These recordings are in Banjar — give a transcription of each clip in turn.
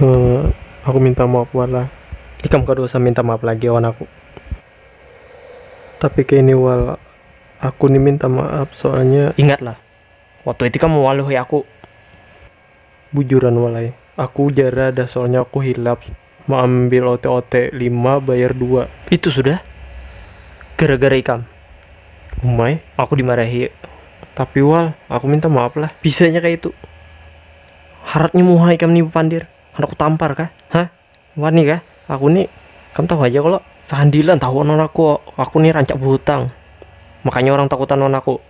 Uh, aku minta maaf wan lah. Ikam kada usah minta maaf lagi wan aku. Tapi kaini wal, aku ni minta maaf soalnya. Ingat lah, waktu itu ikam mewaluhi aku. Bujuran wal ai, aku jara dah soalnya aku hilap Mau ambil ote-ote lima bayar dua. Itu sudah gara-gara ikam. Umai, aku dimarahi. Tapi wal, aku minta maaf lah. Bisanya kayak itu. Haratnya muha ikam nih pandir. Anak tampar kah? Hah? Wani kah? Aku nih, kamu tahu aja kalau sehandilan tahu non aku. Aku nih rancak berhutang. Makanya orang takutan non aku.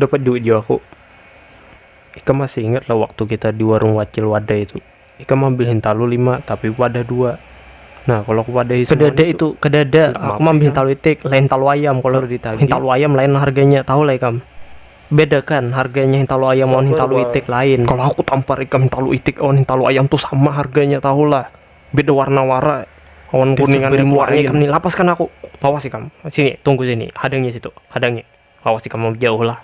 dapat duit jua aku ikam masih ingat lah waktu kita di warung wacil wadah itu ikam ambil hintalu lima tapi wadah dua nah kalau aku wadahi kedada itu, itu kedada aku ambil hintalu itik lain hintalu ayam kalau hintalu ayam lain harganya tahu lah ikam bedakan harganya hintalu ayam lawan hintalu itik lain kalau aku tampar ikam hintalu itik lawan hintalu ayam tuh sama harganya tahu lah Beda warna wara awan kuningan dari luarnya ikam ni lapaskan aku awas ikam sini tunggu sini hadangi situ hadangi awas ikam mau jauh lah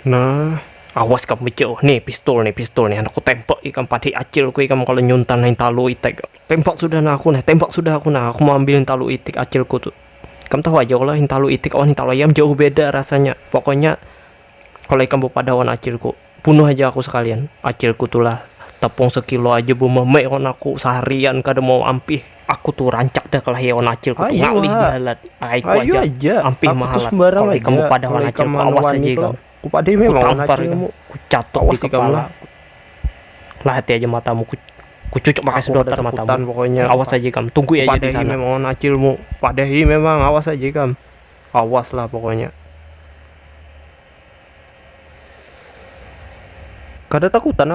nah awas ikam jauh nih pistol nih pistol nih anakku tembak ikam padai acilku ikam kalau nyuntan nih talu itek tembak sudah nah aku nih tembak sudah aku nah aku mau ambil talu itik acilku tuh ikam tahu aja kalau talu itik awan talu ayam jauh beda rasanya pokoknya kalau ikam bepada awan acilku Bunuh haja aku sakalian, acilku tu lah, tepung sekilo haja bememe awan aku, saharian kada mau ampih, aku tu rancak dah kalahi awan acilku tu, ngalih bahalat, ahaiku haja, ampih mahalat, kalau ikam bepadah wan acilku, awas haja ikam, kutampar ikam, kucatuk di kepala, lahati haja matamu, kucucuk pakai sedotan matamu, awas haja ikam, tunggui haja di sana. Padahi memang awan acilmu, padahi memang awas haja ikam, awas lah pokoknya. Kada takutan aku.